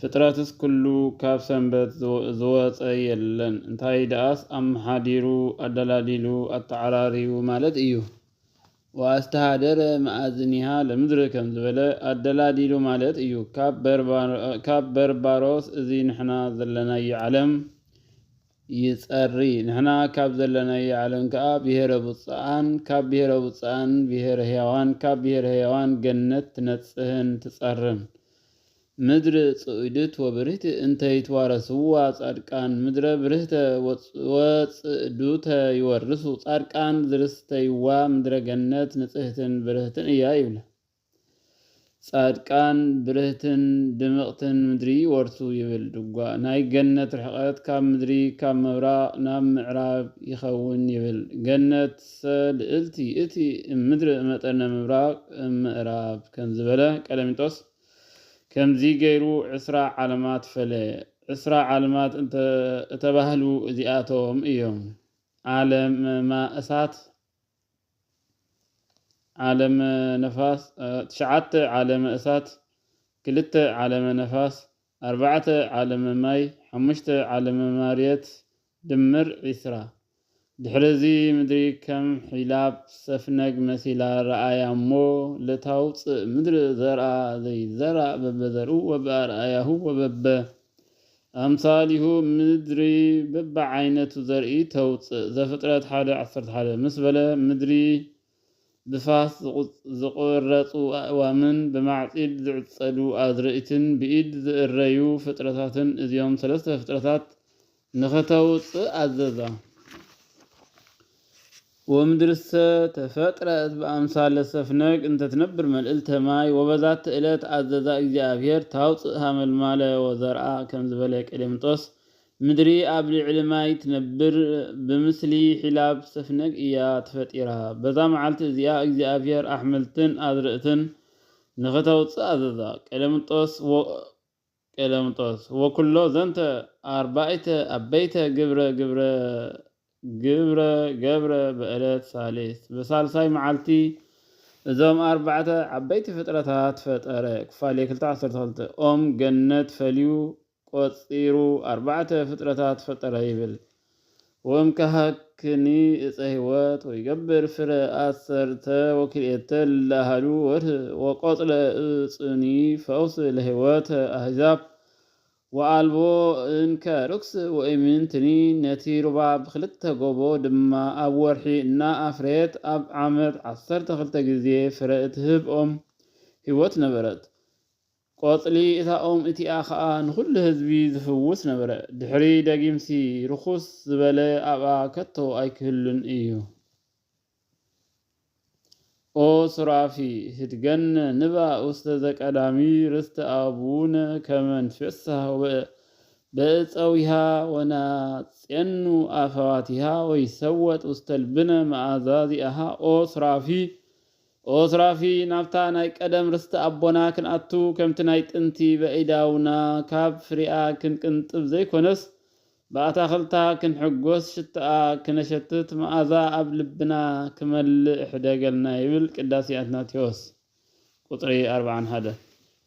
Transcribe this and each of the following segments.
ፍጥረትስ ኩሉ ካብ ሰንበት ዝወጸ የለን እንታይ ደኣስ ኣመሓዲሩ ኣደላዲሉ ኣተዓራርዩ ማለት እዩ። ወኣስተኀደረ መኣዝኒሃ ለምድር ከም ዝበለ ኣደላዲሉ ማለት እዩ። ካብ በርባሮስ እዚ ንሕና ዘለናዮ ዓለም ይጸሪ። ንሕና ካብ ዘለናዮ ዓለም ከኣ ብሔረ ብጹኣን ካብ ብሔረ ብጹኣን ብሔረ ሕያዋን ካብ ብሔረ ሕያዋን ገነት ትነጽህን ትጸርን። ምድሪ ጽእዱት ወብርህቲ እንተ ይትዋረስዋ ጻድቃን ምድረ ብርህተ ወጽእዱተ ይወርሱ ጻድቃን ዝርስተይዋ ምድረ ገነት ንጽህትን ብርህትን እያ ይብላ ጻድቃን ብርህትን ድምቕትን ምድሪ ይወርሱ ይብል ድጓ ናይ ገነት ርሕቐት ካብ ምድሪ ካብ ምብራቕ ናብ ምዕራብ ይኸውን ይብል ገነትሰ ልእልቲ እቲ እም ምድሪ እመጠነ ምብራቕ እም ምእራብ ከምዝበለ ቀሌምንጦስ ከምዚ ገይሩ ዕስራ ዓለማት ፈለየ። ዕስራ ዓለማት እንተ እተባህሉ እዚኣቶም እዮም፣ ዓለም ማይ፣ እሳት፣ ዓለም ነፋስ፣ ትሽዓተ ዓለመ እሳት፣ ክልተ ዓለመ ነፋስ፣ ኣርባዕተ ዓለመ ማይ፣ ሓሙሽተ ዓለመ ማርየት፣ ድምር ዕስራ። ድሕሪ እዚ ምድሪ ከም ሒላብ ሰፍነግ መሲላ ረኣያ እሞ፣ ለታውጽእ ምድሪ ዘርኣ ዘይዘራእ በበዘርኡ ወበኣርኣያሁ ወበበ ኣምሳሊሁ ምድሪ በብዓይነቱ ዘርኢ ተውጽእ። ዘፍጥረት ሓደ ዓሰርተ ሓደ። ምስ በለ ምድሪ ብፋስ ዝቝረጹ ኣእዋምን ብማዕጺድ ዝዕጸዱ ኣዝርእትን ብኢድ ዝእረዩ ፍጥረታትን እዚኦም ሰለስተ ፍጥረታት ንኸተውጽእ ኣዘዛ። ወምድርሰ ተፈጥረት በኣምሳለ ሰፍነግ እንተ ትነብር መልእልተ ማይ፣ ወበዛቲ እለት ኣዘዛ እግዚኣብሔር ታውጽእ ሃመልማለ ወዘርኣ ከም ዝበለ ቀሌምንጦስ ምድሪ ኣብ ልዕሊ ማይ ትነብር ብምስሊ ሒላብ ዝተፍነግ እያ ተፈጢራ። በዛ መዓልቲ እዚኣ እግዚኣብሄር ኣሕምልትን ኣዝርእትን ንኽተውጽእ ኣዘዛ። ቀሌምንጦስ ወ ቀሌምንጦስ ወኵሎ ዘንተ ኣርባኢተ ኣበይተ ግብረ ግብረ ግብረ ገብረ በእለት ሳልስት በሳልሳይ መዓልቲ እዞም ኣርባዕተ ዓበይቲ ፍጥረታት ፈጠረ ኩፋሌ ክልተ ዓሰርተ ክልተ ኦም ገነት ፈልዩ ቈጺሩ ኣርባዕተ ፍጥረታት ፈጠረ ይብል። ወእምከሀክኒ እፀ ሕይወት ወይገብር ፍረ ኣሰርተ ወክልኤተ እለ ኣሃዱ ወርኅ ወቈጽለ እፁኒ ፈውስ ለሕይወተ ኣሕዛብ ወኣልቦ እንከ ርኵስ ወኢምንትኒ ነቲ ሩባ ብክልተ ጎቦ ድማ ኣብ ወርሒ እና ኣፍረየት ኣብ ዓመት ዓሰርተ ክልተ ጊዜ ፍረ እትህብ ኦም ሕይወት ነበረት። ቆጽሊ እታ ኦም እቲኣ ኸኣ ንዅሉ ህዝቢ ዚፍውስ ነበረ። ድሕሪ ደጊምሲ፣ ርኹስ ዝበለ ኣብኣ ከቶ ኣይኪህሉን እዩ። ኦ ሱራፊ፣ ህድገነ ንባ ውስተ ዘቀዳሚ ርስተ ኣቡነ ከመ ንትፌሳህ ወበእፀዊሃ ወናጼኑ ኣፈዋቲሃ ወይሰወጥ ውስተ ልብነ መኣዛ ዚኣሃ። ኦ ሱራፊ፣ ኦስ ራፊ ናብታ ናይ ቀደም ርስቲ ኣቦና ክንኣቱ ከምቲ ናይ ጥንቲ በኢዳውና ካብ ፍሪኣ ክንቅንጥብ ዘይኮነስ ብኣታኽልታ ክንሕጎስ ሽትኣ ክነሸትት መኣዛ ኣብ ልብና ክመልእ ሕደገልና ይብል ቅዳሴ ኣትናቴዎስ ቁጽሪ ኣርብዓን ሓደን።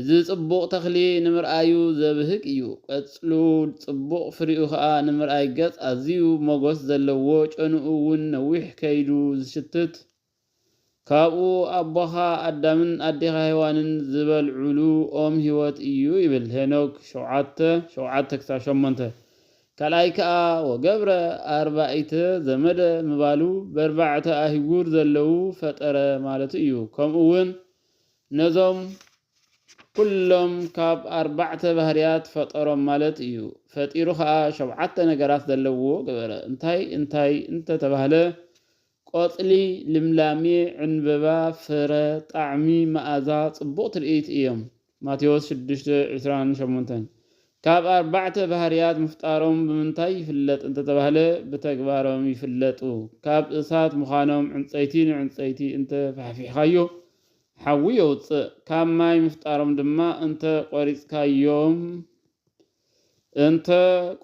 እዚ ጽቡቕ ተኽሊ ንምርኣዩ ዘብህግ እዩ፣ ቀጽሉ ጽቡቕ ፍሪኡ ከኣ ንምርኣይ ገጽ ኣዝዩ ሞጎስ ዘለዎ ጨንኡ ውን ነዊሕ ከይዱ ዝሽትት ካብኡ ኣቦኻ ኣዳምን ኣዴኻ ሄዋንን ዝበልዑሉ ኦም ህይወት እዩ ይብል ሄኖክ ሸውዓተ ሸውዓተ ክሳብ ሸሞንተ ካልኣይ ከኣ ወገብረ ኣርባኢተ ዘመደ ምባሉ በርባዕተ ኣህጉር ዘለው ፈጠረ ማለቱ እዩ ከምኡ ውን ነዞም ኩሎም ካብ ኣርባዕተ ባህርያት ፈጠሮም ማለት እዩ። ፈጢሩ ከኣ ሸውዓተ ነገራት ዘለውዎ ገበረ። እንታይ እንታይ እንተ ተባህለ፣ ቆጽሊ፣ ልምላሜ፣ ዕንበባ፣ ፍረ፣ ጣዕሚ፣ መኣዛ፣ ጽቡቕ ትርኢት እዮም። ማቴዎስ ሽዱሽተ ዕስራን ሸሞንተን። ካብ ኣርባዕተ ባህርያት ምፍጣሮም ብምንታይ ይፍለጥ እንተተባህለ ብተግባሮም ይፍለጡ። ካብ እሳት ምዃኖም ዕንጸይቲ ንዕንጸይቲ እንተ ፋሕፊሕካዮ ሓዊ የውጽእ፣ ካብ ማይ ምፍጣሮም ድማ እንተ ቆሪጽካዮም እንተ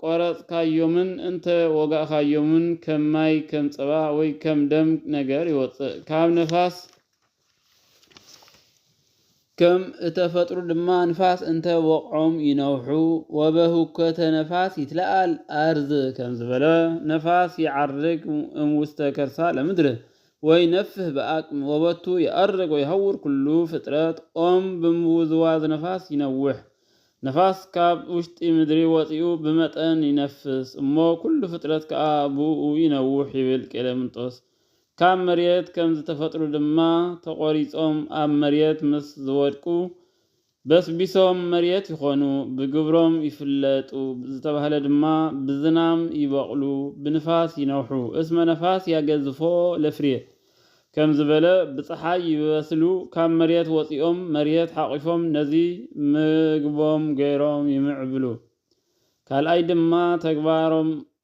ቆረጽካዮምን እንተ ወጋእካዮምን ከም ማይ ከም ጸባ ወይ ከም ደም ነገር ይወጽእ፣ ካብ ነፋስ ከም እተፈጥሩ ድማ ንፋስ እንተ ወቕዖም ይነውሑ ወበሁከተ ነፋስ ይትለኣል ኣርዝ ከም ዝበለ ነፋስ ይዓርግ እም ውስተ ከርሳ ለምድር ወይ ነፍህ ብኣቅም ወበቱ ይኣርግ ወይሃውር ኩሉ ፍጥረት ኦም ብምውዝዋዝ ነፋስ ይነውሕ ነፋስ ካብ ውሽጢ ምድሪ ወፂኡ ብመጠን ይነፍስ እሞ ኩሉ ፍጥረት ከዓ ብኡ ይነውሕ ይብል ቄሌምንጦስ ካብ መሬት ከም ዝተፈጥሩ ድማ ተቖሪጾም ኣብ መሬት ምስ ዝወድቁ በስቢሶም መሬት ይኾኑ፣ ብግብሮም ይፍለጡ ዝተባህለ ድማ ብዝናም ይበቕሉ፣ ብንፋስ ይነውሑ፣ እስመ ነፋስ ያገዝፎ ለፍሬ ከም ዝበለ ብጸሓይ ይበስሉ፣ ካብ መሬት ወጺኦም መሬት ሓቝፎም ነዚ ምግቦም ገይሮም ይምዕብሉ። ካልኣይ ድማ ተግባሮም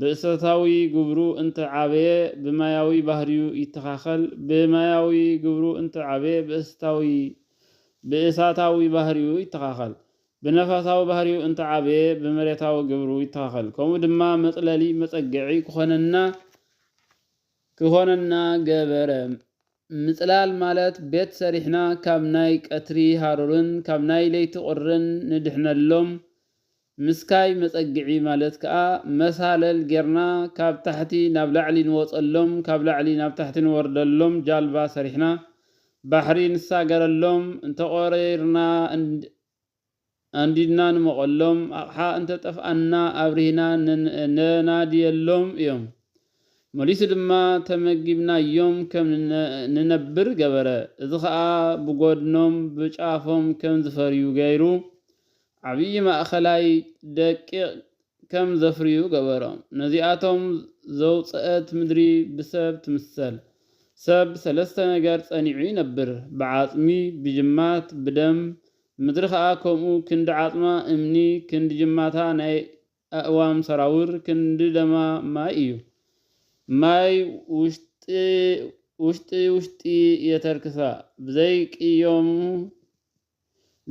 ብእቶታዊ ግብሩ እንተ ዓበየ ብማያዊ ባህሪኡ ይተኻኸል፣ ብማያዊ ግብሩ እንተ ዓበየ ብእስታዊ፣ ብእሳታዊ፣ ባህሪኡ ይተኻኸል፣ ብነፋሳዊ ባህሪኡ እንተ ዓበየ ብመሬታዊ ግብሩ ይተኻኸል፣ ከምኡ ድማ መጽለሊ፣ መጸገዒ፣ ክኾነና ክኾነና ገበረ። ምጽላል ማለት ቤት ሰሪሕና ካብ ናይ ቀትሪ ሃሩርን ካብ ናይ ለይቲ ቁርን ንድሕነሎም፣ ምስካይ መጸግዒ ማለት ከኣ መሳለል ጌርና ካብ ታሕቲ ናብ ላዕሊ ንወጸሎም ካብ ላዕሊ ናብ ታሕቲ ንወርደሎም ጃልባ ሰሪሕና ባሕሪ ንሳገረሎም እንተቆሪርና ኣንዲድና ንመቐሎም፣ ኣቕሓ እንተ ጠፍኣና ኣብሪህና ነናድየሎም እዮም። መሊሱ ድማ ተመጊብናዮም ከም ንነብር ገበረ። እዚ ኸኣ ብጐድኖም ብጫፎም ከም ዝፈርዩ ገይሩ፣ ዓብዪ ማእከላይ ደቂቕ ከም ዘፍርዩ ገበሮም። ነዚኣቶም ዘውጽእት ምድሪ ብሰብ ትምሰል። ሰብ ሰለስተ ነገር ጸኒዑ ይነብር፣ ብዓጽሚ፣ ብጅማት፣ ብደም፣ ምድሪ ኸኣ ከምኡ ክንዲ ዓጽማ እምኒ፣ ክንዲ ጅማታ ናይ ኣእዋም ሰራውር፣ ክንዲ ደማ ማይ እዩ። ማይ ውሽጢ ውሽጢ የተርክሳ፣ ብዘይቅዮሙ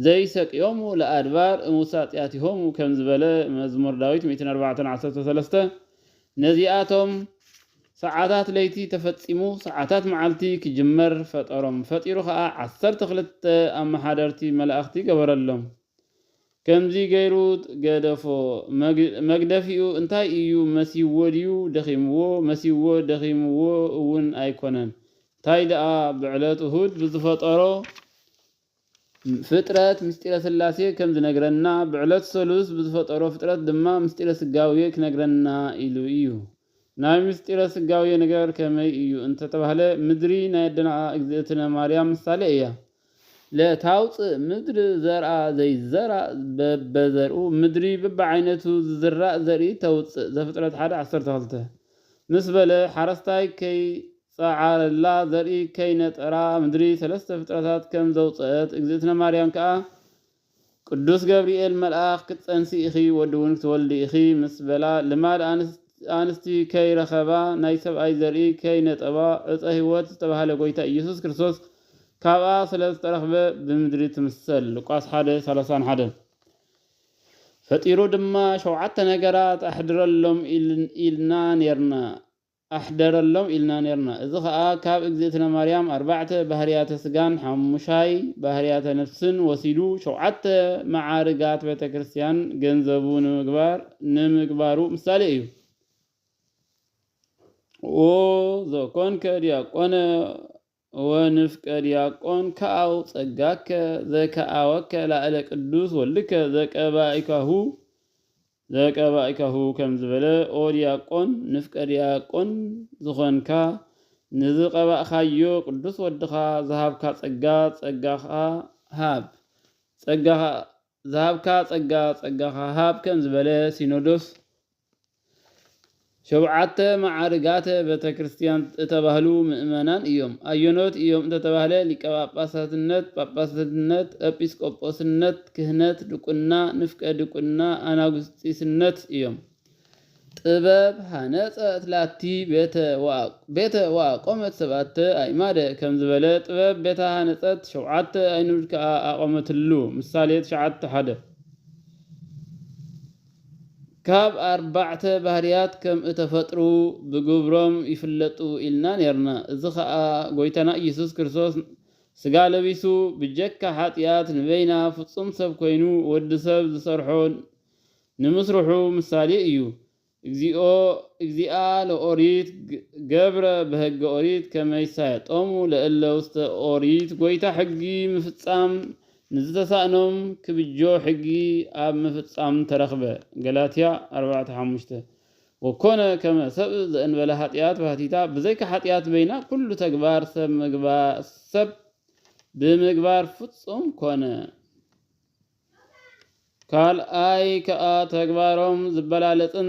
ዘይሰቅዮሙ ለኣድባር እምውሳጢያቲሆሙ ከም ዝበለ መዝሙር ዳዊት ሚእትን ኣርባዕተን ዓሰርተ ሰለስተ ነዚኣቶም ሰዓታት ለይቲ ተፈጺሙ ሰዓታት መዓልቲ ክጅመር ፈጠሮም። ፈጢሩ ከኣ ዓሰርተ ክልተ ኣመሓደርቲ መላእኽቲ ገበረሎም። ከምዚ ገይሩ ገደፎ። መግደፊኡ እንታይ እዩ መሲዎ ድዩ ደኺምዎ መሲዎ ደኺምዎ እውን ኣይኮነን። እንታይ ደኣ ብዕለት እሁድ ብዝፈጠሮ ፍጥረት ምስጢረ ሥላሴ ከም ዝነግረና ብዕለት ሰሉስ ብዝፈጠሮ ፍጥረት ድማ ምስጢረ ሥጋዌ ክነግረና ኢሉ እዩ። ናይ ምስጢረ ሥጋዌ ነገር ከመይ እዩ እንተተባህለ ምድሪ ናይ ኣደና እግዝእትነ ማርያም ምሳሌ እያ። ለታውፅእ ምድር ዘርኣ ዘይዘራእ በበዘርኡ ምድሪ በብዓይነቱ ዝዝራእ ዘርኢ ተውፅእ ዘፍጥረት ሓደ ዓሰርተ ክልተ ምስ በለ ሓረስታይ ከይ ጸዓረላ ዘርኢ ከይነጠራ ምድሪ ሰለስተ ፍጥረታት ከም ዘውጸእት እግዝእትነ ማርያም ከኣ ቅዱስ ገብርኤል መልኣኽ ክትጸንሲ ኢኺ ወዲ ውን ክትወልዲ ኢኺ ምስ በላ ልማድ ኣንስቲ ከይረኸባ ናይ ሰብኣይ ዘርኢ ከይነጠባ ዕጸ ሕይወት ዝተባህለ ጎይታ ኢየሱስ ክርስቶስ ካብኣ ስለ ዝተረኽበ ብምድሪ ትምሰል ሉቃስ ሓደ ሰላሳን ሓደን ፈጢሩ ድማ ሸውዓተ ነገራት ኣሕድረሎም ኢልና ኔርና ኣሕደረሎም ኢልና ኔርና እዚ ከኣ ካብ እግዝእትነ ማርያም ኣርባዕተ ባህርያተ ስጋን ሓሙሻይ ባህርያተ ነፍስን ወሲዱ ሸውዓተ መዓርጋት ቤተክርስትያን ገንዘቡ ንምግባር ንምግባሩ ምሳሌ እዩ። ኦዞኮንከ ዲያቆነ እወ ንፍቀ ዲያቆን ከኣው ጸጋከ ዘከኣወከ ላእለ ቅዱስ ወልድከ ዘቀባኢካሁ ዘቀባኢካሁ ከም ዝበለ ኦ ዲያቆን ንፍቀ ዲያቆን ዝኾንካ ንዝቀባእካዮ ቅዱስ ወድኻ ዝሃብካ ጸጋ ጸጋኻ ሃብ ጸጋኻ ዝሃብካ ጸጋ ጸጋኻ ሃብ ከም ዝበለ ሲኖዶስ፣ ሾብዓተ መዓርጋተ ቤተክርስትያን እተባህሉ ምእመናን እዮም። ኣየኖት እዮም እንተተባህለ ሊቀ ጳጳሳትነት፣ ጳጳስነት፣ ኤጲስቆጶስነት፣ ክህነት፣ ድቁና፣ ንፍቀ ድቁና፣ ኣናጉስጢስነት እዮም። ጥበብ ሀነጸት ላቲ ቤተ ወቤተ ወኣቆመት ሰብኣተ ኣእማደ ከም ዝበለ ጥበብ ቤታ ሀነጸት ሸውዓተ ኣይኑድ ከኣ ኣቆመትሉ፣ ምሳሌ ትሽዓተ ሓደ። ካብ ኣርባዕተ ባህርያት ከም እተፈጥሩ ብግብሮም ይፍለጡ ኢልና ኔርና፣ እዚ ከኣ ጎይታና ኢየሱስ ክርስቶስ ስጋ ለቢሱ ብጀካ ሓጥያት ንበይና ፍጹም ሰብ ኮይኑ ወዲ ሰብ ዝሰርሖ ንምስርሑ ምሳሌ እዩ። እግዚኦ እግዚኣ ለኦሪት ገብረ በሕገ ኦሪት ከመ ይሳየጦሙ ለእለ ውስተ ኦሪት ጐይታ ሕጊ ምፍጻም ንዝተሳእኖም ክብጆ ሕጊ ኣብ ምፍጻም ተረኽበ ገላትያ ኣርባዕተ ሓሙሽተ ወኮነ ከመ ሰብእ ዘእንበለ ኃጢኣት ባህቲታ ብዘይካ ኃጢኣት በይና ኵሉ ተግባር ሰብ ሰብ ብምግባር ፍጹም ኮነ። ካልኣይ ከኣ ተግባሮም ዝበላለጽን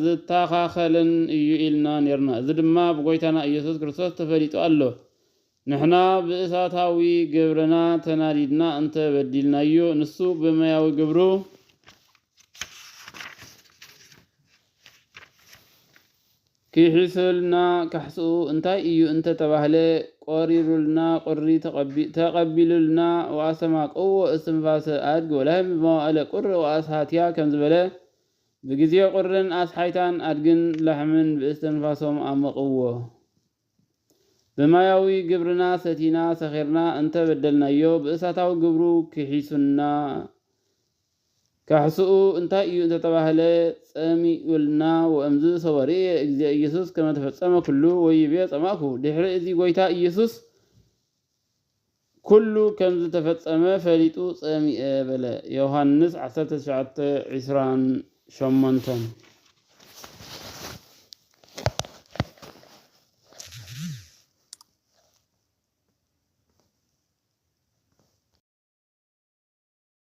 ዝታኻኸልን እዩ ኢልና ኔርና እዚ ድማ ብጎይታና ኢየሱስ ክርስቶስ ተፈሊጡ ኣሎ። ንሕና ብእሳታዊ ግብርና ተናዲድና እንተ በዲልናዮ ንሱ ብመያዊ ግብሩ ኪሒሱልና ካሕስኡ እንታይ እዩ እንተ ተባህለ፣ ቆሪሩልና ቁሪ ተቐቢሉልና ወኣስተማቅዎ እስትንፋሰ ኣድግ ወላህም ብመዋእለ ቁር ወኣስሃትያ ከም ዝበለ፣ ብግዜ ቁርን ኣስሓይታን ኣድግን ላሕምን ብእስትንፋሶም ኣሞቕዎ። ብማያዊ ግብርና ሰቲና ሰኺርና እንተ በደልናዮ ብእሳታዊ ግብሩ ኪሒሱና እዩ። ካሕስኡ እንታይ እዩ እንተ ተባህለ፣ ጸሚኡልና፣ ወእምዝ ሶበ ርእየ እግዚእ ኢየሱስ ከመ ተፈጸመ ኩሉ ወይቤ ጸማእኩ፣ ድሕሪ እዚ ጐይታ ኢየሱስ ኩሉ ከም ዝተፈጸመ ፈሊጡ ጸሚኤ በለ፣ ዮሃንስ ዓሰርተ ትሽዓተ ዕስራን ሸሞንተን።